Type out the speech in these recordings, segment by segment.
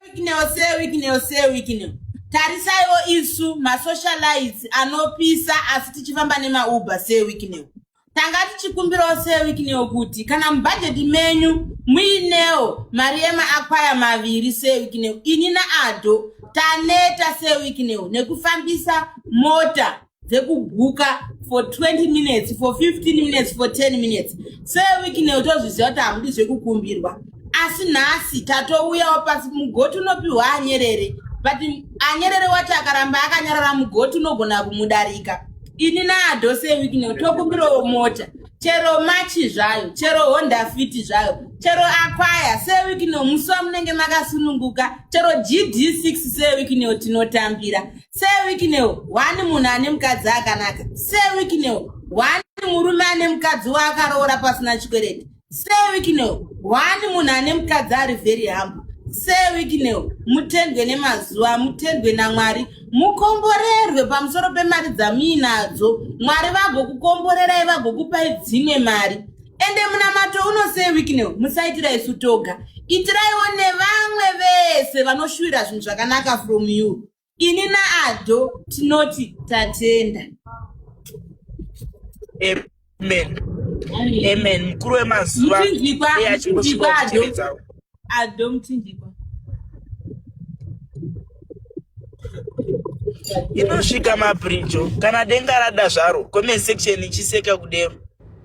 Wicknell se Wicknell se Wicknell. Tarisaiwo isu masocialites anopisa asi tichifamba nemauber se Wicknell. Tanga tichikumbirawo se Wicknell kuti kana mubhajeti menyu muinewo mari yemaakwaya maviri se Wicknell ini naado taneta se Wicknell nekufambisa mota dzekubhuka for 20 minutes for 15 minutes for 10 minutes seweeknel tozviziva kuti hamudi zvekukumbirwa asi nhasi tatouyawo pasi mugoti unopiwa anyerere but anyerere wacho akaramba akanyarara mugoti unogona kumudarika ini naado seweeknel tokumbirawo mota chero machi zvayo chero honda fiti zvayo chero akwaya seweeknel musi wamunenge makasununguka chero gd 6 seweeknel tinotambira sewikineo one munhu ane mukadzi akanaka sewikineo one murume ane mukadzi waakaroora pasina chikwereti sewikineo one munhu ane mukadzi ari very hambo sewikineo mutendwe nemazuva mutendwe namwari mukomborerwe pamusoro pemari dzamuinadzo mwari vagokukomborerai vagokupai dzimwe mari ende munamato unosei wikineo musaitira isu toga itiraiwo nevamwe vese vanoshuvira zvinhu zvakanaka from you ini naado tinoti tatenda amen amen mukuru wemazuva muchinjikwa muchinjikwa ado ado muchinjikwa inosvika mabrinjo kana denga rada zvaro comment section ichiseka kudero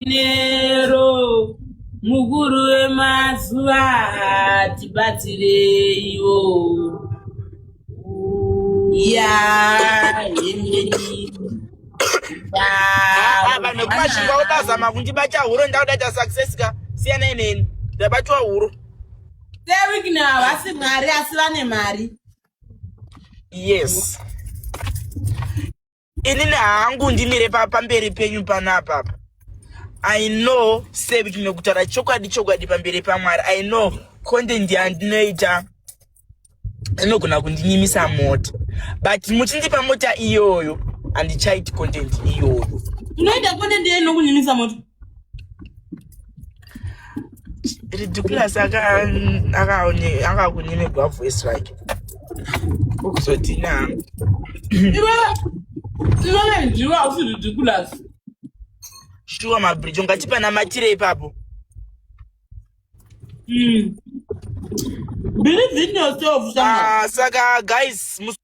nero mukuru wemazuva tibatsireiwo ya vanhu vekumashinga votazama kundibacha huro ndauda ta success ka siyanai neni ndabatwa huro sewikina havasi mwari asi vane mari yes inini hangu ndimire pamberi penyu panapa i know sevik mekutaura chokwadi chokwadi pamberi pamwari i know content yandinoita inogona kundinyimisa mota but muchindipa mota iyoyo handichaiti content iyoyo unoita content yei nokunyimisa mota ridiculous akakunyimigwa voice rake ukuzoti na iwe ndiwe hausi ridiculous shuwa mabridge ungatipa namatire ipapo hmm. believe in yourself ah, saka guys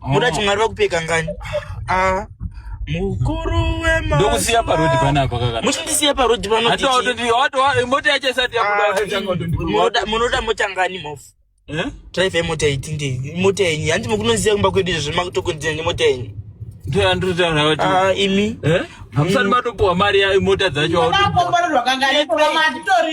Muda chimwari vakupeka ngani? Ah. Mukuru wema. Ndokusiya pa road pana apa kaka. Muchindisiya pa road pano. Hata auto ndi auto mota yacho isati yabuda ah, changa auto ndi. Munoda munoda mota ngani mofu? Eh? Drive mota iti ndi mota yenyu. Hanti mukunoziya kumba kwedu izvo zvimakutokonzera nemota yenyu. Ndiyo andiri taura kuti. Ah imi. Eh? Hamusati matopuwa mari ya mota dzacho auto. Ndakapomba ndo rwakangaira.